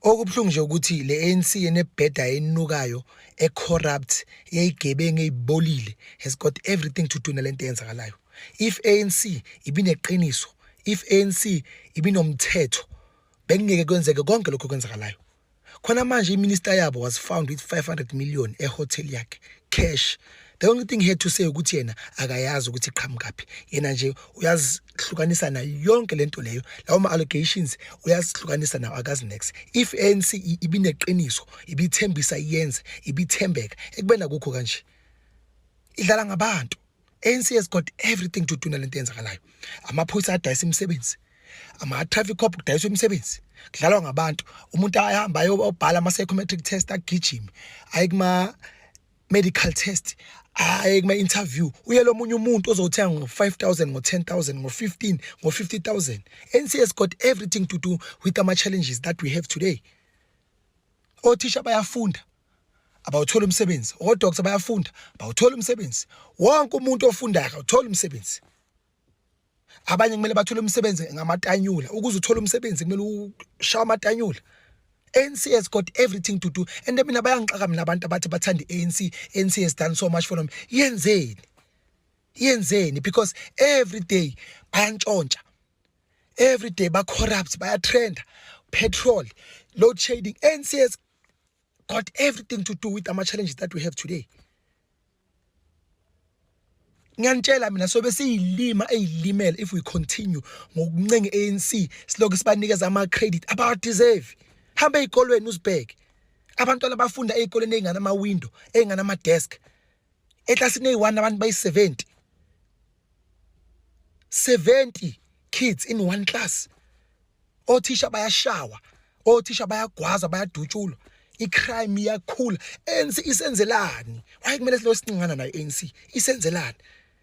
Okubuhlungu nje ukuthi le ANC enebheda enukayo e corrupt eyigebengu eyibolile has got everything to do nalento eyenzakalayo. If ANC ibineqiniso, if ANC ibinomthetho bekungeke kwenzeke konke lokho kwenzakalayo. Khona manje iminister yabo was found with 500 million ehotel yakhe cash. The only thing he had to say ukuthi yena akayazi ukuthi iqhamukaphi. Yena nje uyazi hlukanisa nayo yonke lento leyo lawo ma allegations uyazihlukanisa nawo akazi next if ANC ibineqiniso ibithembisa iyenze ibithembeka ekubena kukho kanje idlala ngabantu ANC has got everything to do nalento yenzakalayo amaphoyisa adayisa imisebenzi ama traffic cop kudayisa imisebenzi kudlalwa ngabantu umuntu ahamba ayobhala ama psychometric test agijime ayikuma medical test hayi kuma interview uye lomunye umuntu ozothenga ngo 5000 ngo 10000 ngo 15 ngo 50000 NCS got everything to do with the challenges that we have today othisha bayafunda abawuthola umsebenzi odoctor bayafunda bawuthola umsebenzi wonke umuntu ofundayo uthola umsebenzi abanye kumele bathole umsebenzi ngamatanyula ukuze uthole umsebenzi kumele ushawa amatanyula ANC has got everything to do and mina bayangixaka mina abantu abathi bathanda ANC ANC has done so much for them yenzeni yenzeni because every day bayantshontsha every day ba corrupt baya trend petrol load shedding ANC has got everything to do with ama challenges that we have today ngiyanitshela mina sobe siyilima eyilimele if we continue ngokuncenga ANC siloku sibanikeza ama credit aba deserve hamba ezikolweni uzibheke abantwana bafunda ezikoleni ezingana ama window ezingana ama desk eklasini eyi-one abantu bayi-seventy 70 kids in one class othisha bayashawa othisha bayagwaza bayadutshulwa icrime iyakhula ANC isenzelani why kumele silo sincingana nayo ANC isenzelani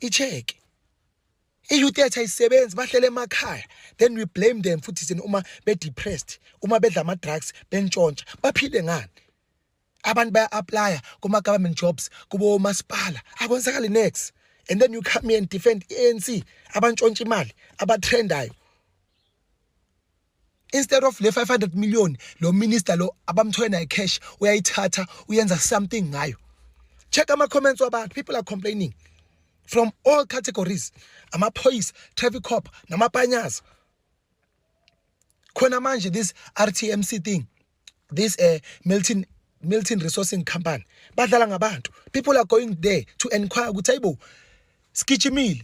icheke iyouth yethu ayisebenzi bahlele emakhaya then we blame them futhi sini uma be-depressed uma bedla ama-drugs bentshontsha baphile ngani abantu baya-aplya kuma-government jobs kubo omasipala akwenzakali next and then you come here and defend i-anc abantshontsha imali abathrendayo instead of le 500 million lo minister lo abamthoye naye cash uyayithatha uyenza something ngayo check ama comments wabantu people are complaining from all categories amaphoyisa traffic cop namapanyaza khona manje this RTMC thing this uh, Milton Milton Resourcing Company badlala ngabantu people are going there to inquire ukuthi ayibo sigijimile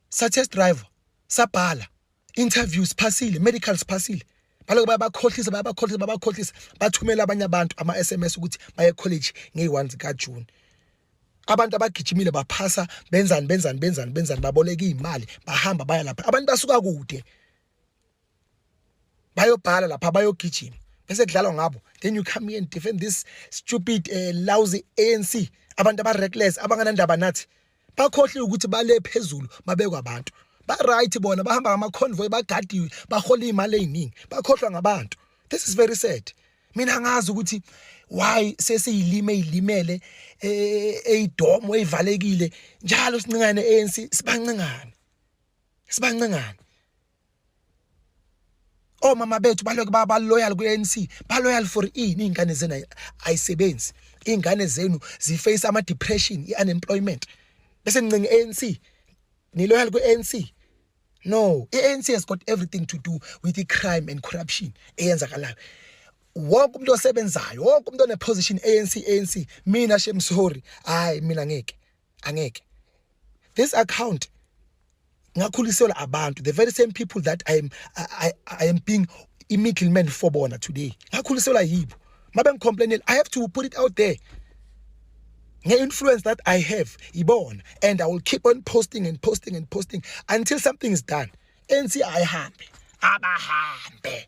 sa test driver sabhala interview siphasile medical siphasile baloku bayabakhohlisa bayabakhohlisa babakhohlisa bathumela abanye abantu ama SMS ukuthi baye college ngey1 zika June abantu abagijimile baphasa benzani benzani benzani benzani baboleka imali bahamba baya lapha abantu basuka kude bayobhala lapha bayogijima bese kudlalwa ngabo then you come here and defend this stupid uh, lousy ANC abantu aba reckless abanganandaba nathi bakhohliwe ukuthi bale phezulu babekwa abantu ba right bona bahamba ngama convoy bagadiwe bahola imali eziningi bakhohlwa ngabantu this is very sad mina ngazi ukuthi why sesiyilime ilimele eyidomo eh, eyivalekile njalo sincane ANC sibancengane sibancengane omama bethu baloke baba loyal ku-ANC ba loyal for ini ingane zenu ayisebenzi ingane zenu ziface ama depression i-unemployment bese nincenga i-ANC ni loyal ku-ANC no i-ANC has got everything to do with the crime and corruption eyenzakalayo wonke umuntu osebenzayo wonke umuntu oneposition ANC ANC mina shemsori hayi mina ngeke angeke this account ngakhuliselwa abantu the very same people that i am i, I, I am being i middleman for bona today ngakhuliselwa yibo mabe ngicomplainela i have to put it out there nge-influence that i have ibona and i will keep on posting and posting and posting until something is done anc ayihambe abahambe